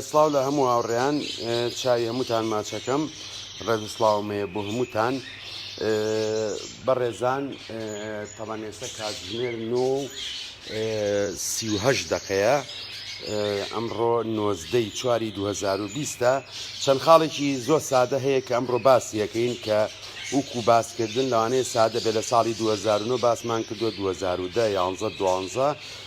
سڵاو لە هەموو هاوڕێیان چای هەمووتان ماچەکەم ڕێز سلااوم هەیە بۆ هەمووتان بەڕێزان تەوان ئێستا کاتژمێر نۆ سیهش دقەیە ئەمڕۆ نۆزدەی چواری 2020ە چەند خاڵێکی زۆر سادە هەیە کە ئەمڕۆ باسیەکەین کە وکو باسکردن لەوانەیە سادە بێ لە ساڵی 2009 باسمان کردو 2010 یانزە دوانزە.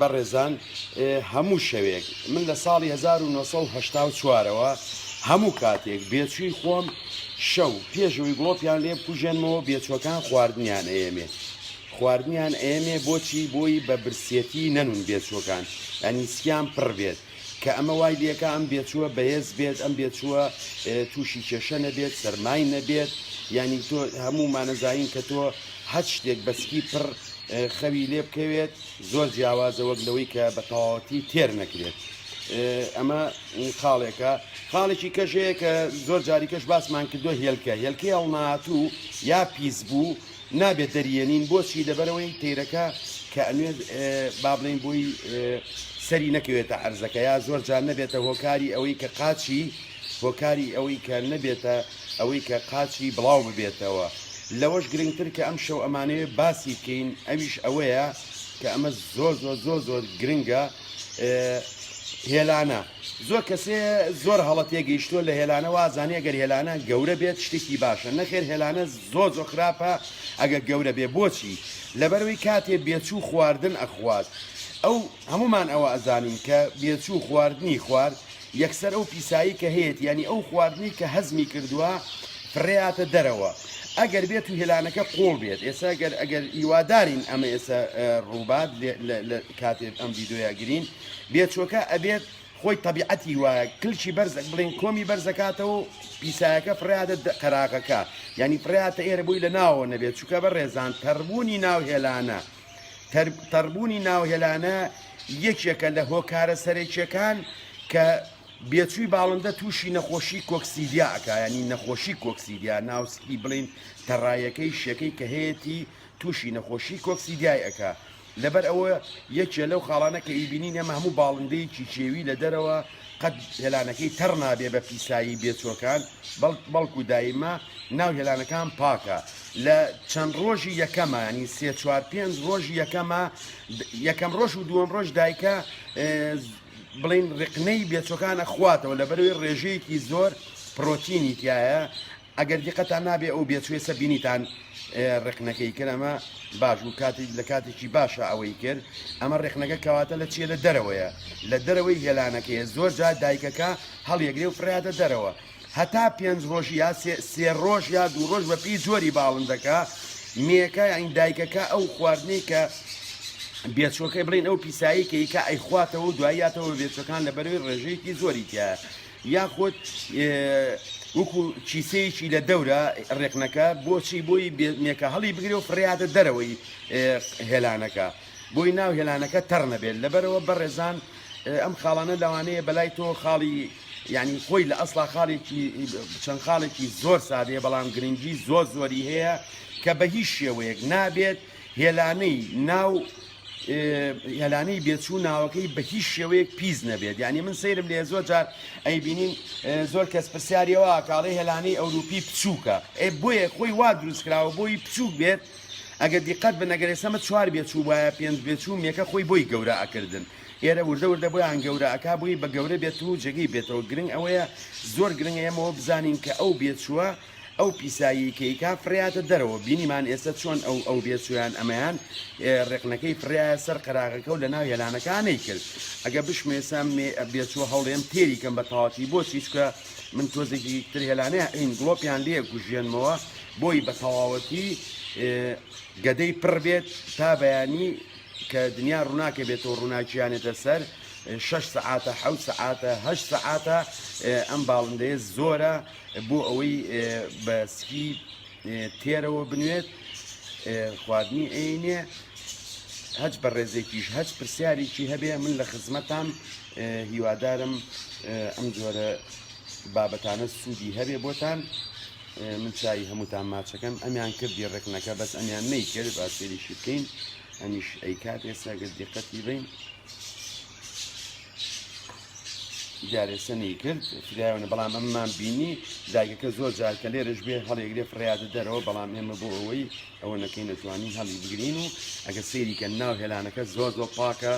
بەڕێزان هەموو شەوێک من لە ساڵی 1970 ەوە هەموو کاتێک بێچووی خۆم شەو پێشەوەی گڵۆپیان لێ بکوژێنمەوە بێچوەکان خواردنیان ئەیەمێ خواردنیان ئەیەمێ بۆچی بۆی بە برسێتی نەنون بێچوەکان ئەنیسکیان پڕ بێت کە ئەمە وای لێکا ئەم بێچووە بەهێز بێت ئەم بێچووە تووشی کێشە نەبێت سەرمای نەبێت ینی تۆ هەموو مانەزایین کە تۆ هەر شتێک بەسکی پڕ خەوی لێ بکەوێت زۆر جیاوازە وەک لەوەی کە بە تەواوەتی تێر نەکرێت. ئەمە خاڵێکە خاڵێکی کەژەیە کە زۆر جاریکەش باسمان کردو هێلکە هێلکەی هەڵناهاتوو یا پیس بوو نابێت دەریێنین بۆچی لەبەرەوەی تەیرەکە کە ئەمێ بابلین بۆی سەری نەکەوێتە عرزەکە یا زۆر جان نەبێتە هۆکاری ئەوەی کە قاچی هۆکاری ئەوەی کە نەبێتە ئەوەی کە قاچی بڵاو ببێتەوە لەوەش گرنگتر کە ئەم شەو ئەمانەیە باسی بکەین ئەویش ئەوەیە کە ئەمە زۆر زۆر زۆر زۆر گرنگە هێلانە زۆر کەسێ زۆر هەڵە تێگەیشتووە لە هێلانە وازانێ گەر هێلانە گەورە بێت شتێکی باشە نەخێر هێلانە زۆر زۆر خراپە ئەگە گەورە بێ بۆچی لەبەروی کاتێ بێچوو خواردن ئەخوات ئەو هەمومان ئەوە ئەزانین کە بێچوو خواردنی خوارد یەکسەر ئەو پیسایی کە هەیەت ینی ئەو خواردنی کە هەزمی کردووە فڕێاتە دەرەوە ئەگەر بێت و هێلانەکە قۆڵ بێت ئێستا گەر ئەگەر هیوادارین ئەمە ئێستا ڕووبات کاتێت ئەم ویددیویاگرین بێچۆکە ئەبێت خۆی تەبیعەتی وایە کلکی بەرزەک بڵین کۆمی بەرزەکاتەوە و پیسایەکە فریادە قەراغەکە ینی فریاتە ئێرە بووی لە ناوە نەبێت چووکە بە ڕێزان تەربوونی ناو هێلانە تەربوونی ناو هێلانە یەکێکە لە هۆکارە سەرێکیەکان کە بێچووی باڵندە تووشی نەخۆشی کۆکسیدیا ئەکایانی نەخۆشی کۆکسیدیا ناوسکی بڵین تەڕایەکەی شەکەی کە هەیەی تووشی نەخۆشی کۆکسیدیای ئەکا لەبەر ئەوە یەکێ لەو خاڵانە کە ئیبینین ئەمە هەموو باڵندەیەکی کێوی لە دەرەوە قەت هێلانەکەی تەڕ نابێ بە پیسایی بێچۆکان بەڵکو دایمە ناو هێلانەکان پاکە لە چەند ڕۆژی یەکەمە ینی سێ چوار پێنج ڕۆژی یەکەمە یەکەم ڕۆژ و دووەم ڕۆژ دایکە بڵین ڕقنەی بێچۆکانە خواتەوە لە بەروی ڕێژەیەکی زۆر پرۆتینی تایە ئەگەر دیقەتان نابێ ئەو بێچوێسە بینیتان ڕێکنەکەی کرد ئەمە باش و کاتی لە کاتێکی باشە ئەوەی کرد ئەمە ڕێکنەکە کەواتە لە چیە لە دەرەوەیە لە دەرەوەی هێلانەکەیە زۆر جا دایکەکە هەڵیەگرێ و فرادە دەرەوە هەتا پێنج ڕۆژ یا سێ ڕۆژ یا دوو ڕۆژ بە پێی جۆری باڵندەکە مێەکە ئەین دایکەکە ئەو خواردنەی کە بێچۆکەی بڵین ئەو پیسایی کە ئیکە ئەیخواتەوە دوایاتەوە بێچەکان لە بەروی ڕێژەیەکی زۆری تایە یاخود وەکو کیسەیەکی لە دەورە ڕێکنەکە بۆچی بۆی بێنێکە هەڵی بگرێ و فڕیاتە دەرەوەی هێلانەکە بۆی ناو هێلانەکە تەڕ نەبێت لەبەرەوە بەڕێزان ئەم خاڵانە لەوانەیە بەلای تۆ خاڵی ینی خۆی لە ئەسڵا خاڵێکی چەند خاڵێکی زۆر سادەیە بەڵام گرنگی زۆر زۆری هەیە کە بە هیچ شێوەیەک نابێت هێلانەی ناو یەلانی بێچوو ناوەکەی بە هیچ شێوەیەک پیس نەبێت یعنی من سەیرم لێ زۆر جار ئەی بینین زۆر کەس پرسیارەوە کاڵی هێلانی ئەوروپی بچووکە ئێ بۆیە خۆی وا دروست کراوە بۆی بچووک بێت ئەگە دیقەت بنەگەرێ سەمە چوار بێچوو وایە پێنج بێچوو مێکە خۆی بۆی گەورە ئەکردن ئێرە وردە وردە بۆیان گەورە ئەک بووی بە گەورە بێت و جێگەی بێتەوە گرنگ ئەوەیە زۆر گرنگە ئەمەوە بزانین کە ئەو بێچووە ئەو پیسایی کەیکا فڕیاتە دەرەوە بینیمان ئێستا چۆن ئەو ئەو بێچویان ئەمەیان ڕێقنەکەی فڕایە سەر قەراغەکە و لە ناو هێلانەکانەی کرد ئەگە بشمێسە بێچوە هەوڵێم تێری کەم بە تاواتی بۆ چیچکە من تۆزێکی تر هێلانەیە ئەین گڵۆپیان لێ گوژێنمەوە بۆی بە تەواوەتی گەدەی پڕ بێت تا بەیانی کە دنیا ڕووناکە بێتەوە ڕووناکییانێتە سەر شش سعاتە حوت سعاتە هە سعاتە ئەم باڵندەیە زۆرە بۆ ئەوەی بە سکی تێرەوە بنوێت خواردنی عینێ هەچ بە ڕێزێکیش هەچ پرسیارێکی هەبێ من لە خزمەتان هیوادارم ئەم جۆرە بابەتانە سوودی هەبێ بۆتان من چای هەمووتان ماچەکەم ئەمیان کردی ڕێکنەکە بەس ئەمیان نەیکرد باسێریشی بکەین ئەمیش ئەیکات ئێستا گەر دیقەتی بین جارێسەنی کرد فرایەوەە بەڵام ئەممان بینی دایکەکە زۆر جار کە لێرەش بێ هەڵێگرێ فڕیادە دەرەوە بەڵام ئێمە بۆ ئەوەی ئەوە نەکەین نەتوانین هەڵی بگرین و ئەگە سەیریکە ناو هێلانەکە زۆر زۆر پاکە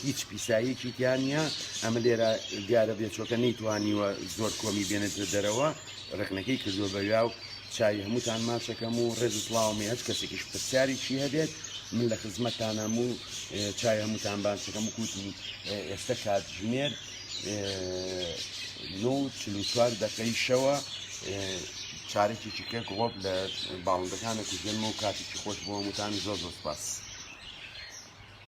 هیچ پیساییکی تیانە ئەمە لێرە دیارە بێچۆکە نەیتوانیوە زۆر کۆمی بێنێتە دەرەوە ڕەخنەکەی کردوە بەویا و چاوی هەمووتان ماچەکەم و ڕێز و سڵاوم هەچ کەسێکیش پرسیاری چی هەبێت من لە خزمەتتانم و چاوی هەمووتان بانچەکەم و کوتی ئێستا کات ژمێر نۆ چلو چوار دەقەی شەوە چارێکێکی کەک ڕۆب لە باڵندەکانە کوژێنمە و کاتێکی خۆش بۆ هەمووتان زۆر زۆر سپاس.